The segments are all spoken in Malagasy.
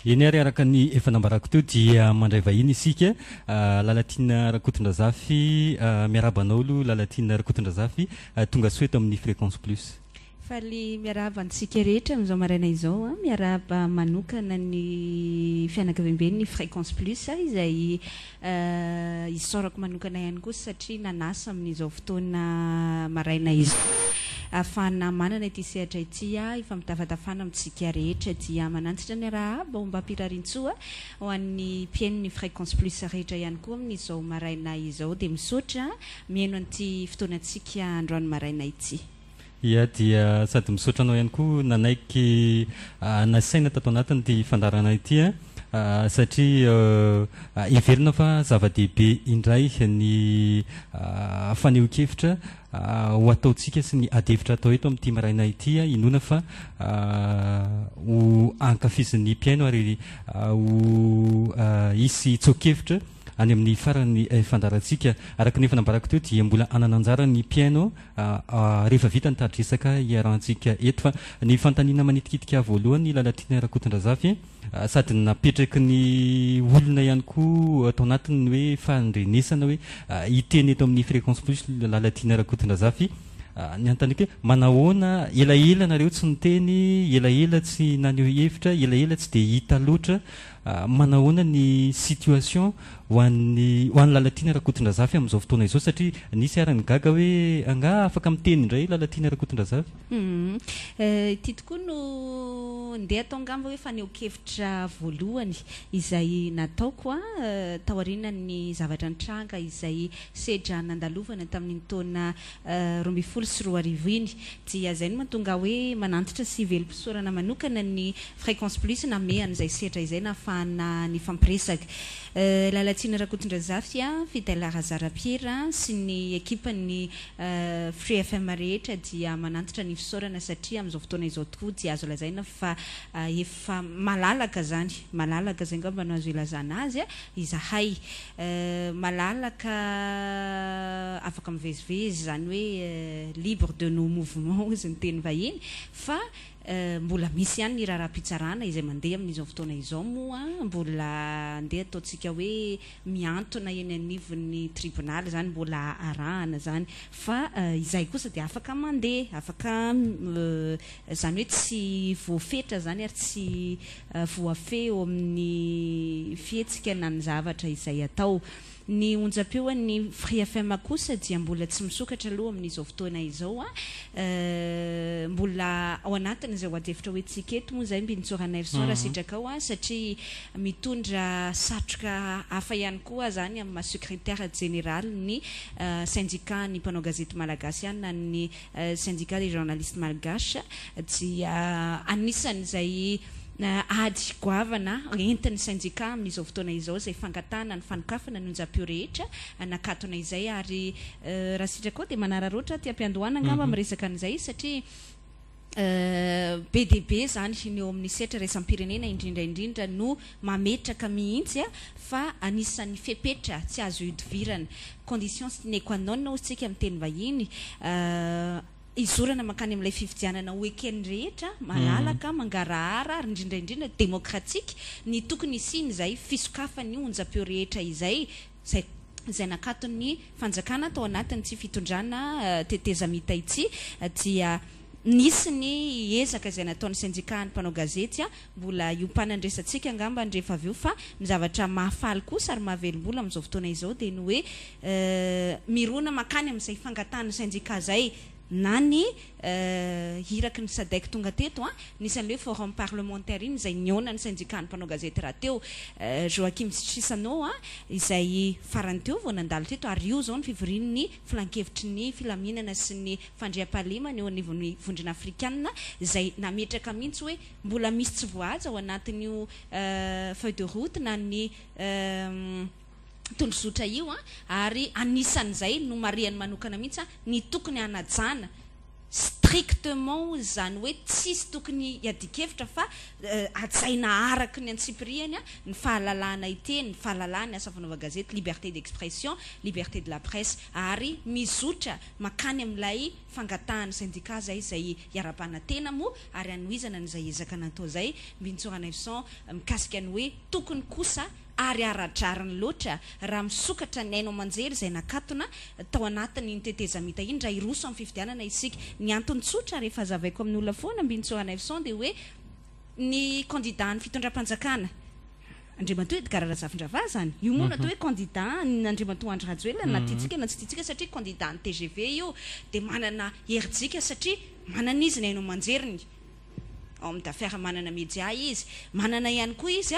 Eny ary araka ny efa nambarako teo dia mandray vahiny isika Lalatiana Rakotondrazafy miarahaba anao aloha Lalatiana Rakotondrazafy tongasoa eto amin'ny Fréquence Plus. Faly miarahaba antsika rehetra amin'izao maraina izao an! Miarahaba manokana ny fianakaviamben'ny Fréquence Plus izay Eh, isaorako manokana ihany koa satria nanasa amin'izao fotoana maraina izao ahafahana manana ity sehatra ity ah, hifampitafatafana amintsika rehetra dia manantsitra ny arahaba ombam-pirarintsoa ho an'ny mpihainon'ny Fréquence Plus rehetra ihany koa amin'izao maraina izao dia misaotra mihaino an'ity fotoanantsika androany maraina ity. Ia dia sady misaotra anao ihany koa nanaiky nasaina tato anatin'ity fandaharana ity satria heverina fa zava-dehibe indray ny fanehoan-kevitra ho ataontsika sy ny adihevitra atao eto amin'ity maraina ity. Inoana fa ho ankafizin'ny mpihaino ary ho hisy tsoa-kevitra. any amin'ny faran'ny fandaharantsika. Araka ny efa nambarako teo dia mbola hanana anjara ny mpihaino rehefa vita ny tari-dresaka iarahantsika eto. Fa ny fanontaniana manitikitika ahy voalohany Lalatiana Rakotondrazafy sady napetraky ny olona ihany koa tao anatiny ny hoe fahandrenesana hoe hiteny eto amin'ny Fréquence Plus Lalatiana Rakotondrazafy. Ny hanontaniako hoe manahoana elaela nareo tsy niteny, elaela tsy naneho hevitra, elaela tsy dia hita loatra Manahoana ny situation ho an'ny ho an'i Lalatiana Rakotondrazafy amin'izao fotoana izao satria nisy ary ny gaga hoe angaha afaka miteny indray Lalatiana Rakotondrazafy? Ity tokoa no ndeha atao angamba hoe fanehoan-kevitra voalohany izay nataoko taorianan'ny zavatra nitranga izay sedra nandalovana tamin'iny taona roa ambin'ny folo sy roa arivo iny, dia izay no mahatonga ahy hoe manantitra sy velom-pisaorana manokana ny Fréquence Plus nanome an'izay sehatra izay nahafahana nifampiresaka. Lalatsina Rakotondrazafy, Fidèle Razarapiera sy ny ekipan'ny Free FM rehetra dia manantitra ny fisaorana satria amin'izao fotoana izao tokoa dia azo lazaina fa efa Fa malalaka zany, malalaka zay ngamba no azo ilazana azy a, izahay. Malalaka afaka mivezivezy, zany hoe libre de nos mouvements hozy ny teny vahiny, fa mbola misy ihany ny raharaham-pitsarana izay mandeha amin'izao fotoana izao moa mbola andeha ataontsika hoe, mihantona eny anivon'ny tribonaly izany mbola arahana izany fa izay kosa dia afaka mandeha afaka izany hoe tsy voafetra izany ary tsy voafehy eo amin'ny fihetsika na ny zavatra izay atao. Ny onjam-peo an'ny Free FM kosa dia mbola tsy misokatra aloha amin'izao fotoana izao. Mbola ao anatin'izay ho adihevitra hoentintsika eto moa izay Mbinintsoa Ranaivoson raha sitraka ao satria Mitondra satroka hafa ihany koa aza any amin'ny maha Secretaire Jeneraly ny Syndicat ny mpanao gazety malagasy ihany na ny Syndicat des Journalistes Malgaches dia anisan'izay ady goavana entin'ny Syndicat amin'izao fotoana izao izay fangatahana ny fanokafana ny onjam-peo rehetra nakatona izay ary raha sitraka koa dia manararaotra aty am-piandohana angamba miresaka an'izay satria Be dia be izany ny eo amin'ny sehatra iraisam-pirenena indrindra indrindra no mametraka mihitsy fa anisan'ny fepetra tsy azo ihodivirana, condition sine qua non hoy isika amin'ny teny vahiny, hizorana mankany amin'ilay fifidianana ho eken'ny rehetra, malalaka, mangarahara ary indrindra indrindra demokratika, ny tokony hisian'izay fisokafan'ny onjam-peo rehetra izay izay izay nakaton'ny fanjakana tao anatin'ity fitondrana tetezamita ity dia nisy ny ezaka izay nataon'ny sendikahan'ny mpanao gazety, mbola hiompanan'ny resatsika angamba ny rehefa avy eo fa ny zavatra mahafaly kosa ary mahavelom-bolo amin'izao fotoana izao dia ny hoe mirona mankany amin'izay fangatahan'ny sendika izay. na ny iraky ny Sadec tonga teto an, nisy an'ilay hoe forum parlementaire iny izay nihaona ny sendikàn'ny mpanao gazety rahateo, Joachim sy Chissano an, izay farany teo vao nandalo teto ary io izao ny fivorian'ny filankevitry ny filaminana sy ny fandriampahalemana eo anivon'ny vondrona afrikanina izay nametraka mihitsy hoe mbola misy tsy voahaja ao anatin'io feuille de route na ny tondrozotra io ary anisan'izay nomarihany manokana mihitsy ny tokony hanajana strictement izany hoe tsisy tokony hiadian-kevitra fa hajaina araka ny antsipirihany ny fahalalahana hiteny, ny fahalalahan'ny asa fanaovan-gazety, liberté d'expression, liberté de la presse ary mizotra mankany amin'ilay fangatahan'ny sendika izay izay iharam-panantena moa ary hanohizana an'izay ezaka natao izay Bintsora Neuvson mikasika ny hoe tokony kosa ary ara-drariny loatra raha misokatra ny haino aman-jery izay nakatona tao anatin'iny tetezamita iny raha hiroso amin'ny fifidianana isika. Ny antony tsotra ary efa hazavaiko amin'ny olona foana Mbinintsoa Hanaivoson dia hoe ny kandida an'ny fitondram-panjakana, Andriamatoa Edgard Razafindravaha izany, io moa no atao hoe kandida an'Andriamatoa Andry Rajoelina na tiantsika na tsy tiantsika satria kandida an'ny tgv io dia manana herijika satria manana izy ny haino aman-jeriny ao amin'ny Dafer, manana media izy, manana ihany koa izy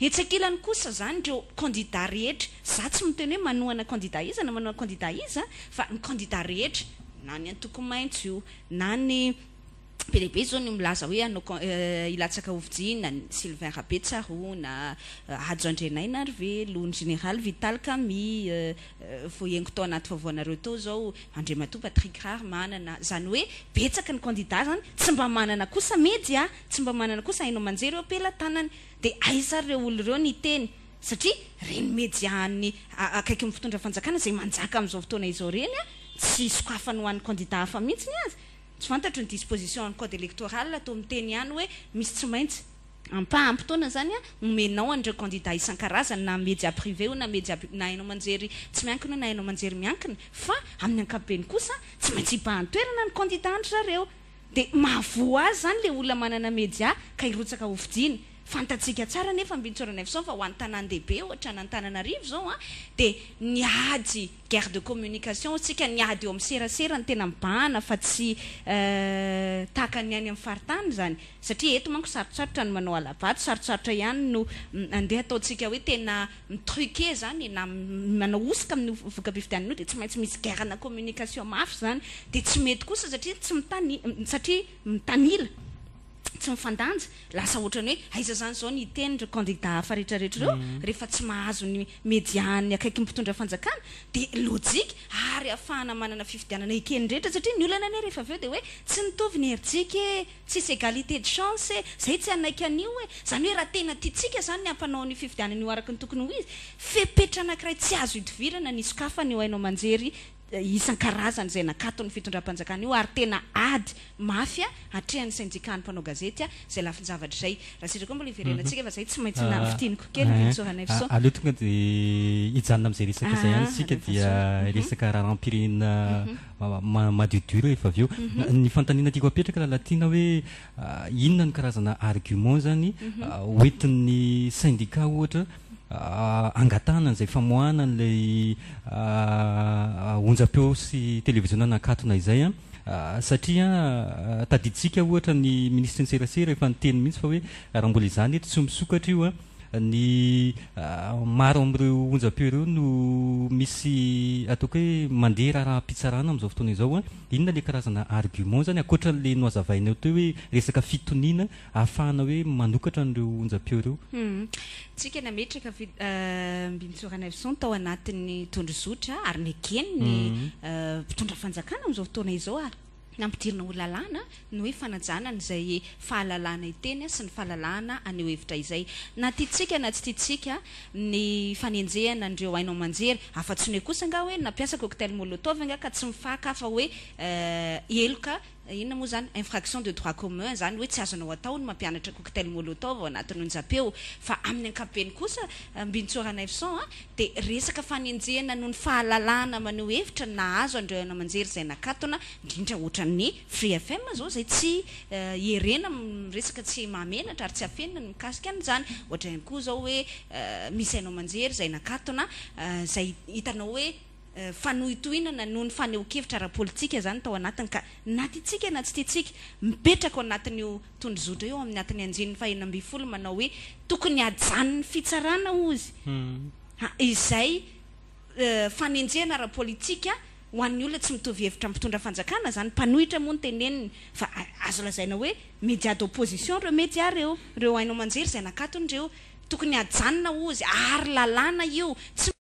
Etsy ankilany kosa zany ireo kandida rehetra, za tsy miteny hoe manohana kandida iza na manohana kandida iza fa ny kandida rehetra, na ny antoko maitso io na ny be dia be zao ny milaza hoe hanao hilatsaka ho vijinina, ny Sylvain Rabetsarona, Hajo Andrianainarivelo, ny Général Vital Camille, voaengo tao anaty vaovaonareo tao zao, Andriamatoa Patrick Raharimanana, zany hoe betsaka ny kandida zany, tsy mba manana kosa media, tsy mba manana kosa haino aman-jery eo am-pelatanany. Dia aiza ary ireo olona ireo ny hiteny satria ireny media any akaiky ny mpitondra fanjakana izay manjaka amin'izao fotoana izao ireny tsy sokafany ho an'ny candidat hafa mihitsy aza tsy fantatro ny disposition an'ny code electoral toa miteny ihany hoe misy tsy maintsy ampaham-potoana izany omenao an'ireo candidat isan-karazany na media privé io na media na haino aman-jery tsy miankina io na haino aman-jery miankina fa amin'ny ankapobeny kosa tsy maintsy hibahan-toerana ny candidat an-dry zareo Dia mahavoa azy izany ilay olona manana media ka hirotsaka ho fidiany. Fantatsika tsara anefa Ambintsora Neveson fa ho an'ny tanàn-dehibe ohatra an'Antananarivo izao an, dia ny ady, guerre de communication hoy isika, ny ady eo amin'ny serasera no tena mibahana fa tsy tahaka ny any amin'ny faritany izany. Satria eto manko sarotsarotra ny manao hala-bato, sarotsarotra ihany no andeha ataontsika hoe tena. mi-truquer zany na manao hosoka amin'ny voka-pifidianana io dia tsy maintsy misy guerre na communication mafy izany dia tsy mety kosa satria tsy mitani satria mitanila tsy mifandanja lasa ohatran'ny hoe aiza izany izao ny hiteny ireo candidat hafa rehetra rehetra ireo mhm. rehefa tsy mahazo ny media ny akaiky mpitondra fanjakana dia logique ary afahana manana fifidianana ekeny rehetra satria ny olana anie rehefa avy eo dia hoe tsy mitovy ny herijika e Tsisy égalité de chance e! Zay tsy hanaiky an'io e! Zany hoe raha tena tiantsika zany ny hampanao an'io fifidianana io araka ny tokony ho izy, fepetra anakiray tsy azo idivirana ny hisokafana io haino aman-jery isan-karazany zay nakaton'ny fitondram-panjakana io ary tena ady mafy atrehan'ny syndicat-n'ny mpanao gazety zay lafin-javatra izay. Raha sendra koa mbola hiverenantsika fa zay tsy maintsy mila fintiniko kely ry Soanaivoson. Aleo tonga dia hijanona amin'izay resaka izay ihany isika dia resaka raharaham-pirenena madiodio rehefa avy eo. Mhm. Ny fanontaniana tiako apetraka Lalatiana hoe ah, inona ny karazana argument zany mhm. ah, hoentin'ny syndicat ohatra ah, angatahana an'izay famoahana an'ilay onjam-peo sy televiziona nakatona izay a satria tadiditsika ohatra ny minisitry ny serasera efa niteny mihitsy fa hoe raha mbola izany eto tsy misokatra io a ny maro amin'ireo onjam-peo ireo no misy ataoko hoe mandeha raharaham-pitsarana amin'izao fotoana izao a, inona ilay karazana argument izany ankoatra an'ilay nohazavainao teo hoe resaka fitoniana ahafahana hoe manokatra an'ireo onjam-peo ireo? Tsika nametraka Mbinintsoa Ranelson tao anatin'ny tondrozotra ary nekeny ny mpitondra fanjakana amin'izao fotoana izao a! Nampidirina ho lalàna ny hoe fanajana an'izay fahalalahana hiteny sy ny fahalalahana haneho hevitra izay, na tiantsika na tsy tiantsika, ny fanenjehana an'ireo haino aman-jery, afa-tsy ny hoe kosa angaha hoe nampiasa cocktail molotov angaha ka tsy mifakafa hoe heloka, inona moa izany, infraction de droit commun izany hoe tsy azonao atao ny mampianatra cocktail molotov ao anatin'ny onjam-peo, fa amin'ny ankapobeny kosa, Bintsora Neuf Cents, dia resaka fanenjehana noho ny fahalalahana maneho hevitra nahazo an'ireo haino aman-jery izay nakatona, indrindra ohatran'ny Free FM izao izay tsy ierena amin'ny resaka tsy mahamenatra ary tsy afenina ny mikasika an'izany. Ohatra ihany koa izao hoe misy haino aman-jery izay nakatona izay hitanao hoe. fanohintohinana noho ny fanehoan-kevitra ara-politika izany tao anatiny ka na tiantsika na tsy tiantsika mipetraka ao anatin'io tondrozotra io ao amin'ny atin'ny anjininy fahenina ambin'ny folo manao hoe tokony hajanon'ny fitsarana hozy ha izay fanenjehana ara-politika ho an'ny olona tsy mitovy hevitra mpitondra fanjakana izany mpanohitra moa ny teneniny fa azo lazaina hoe media d'opposition ireo media ireo ireo haino aman-jery izay nakatony ireo tokony hajanona hozy ary lalàna io tsy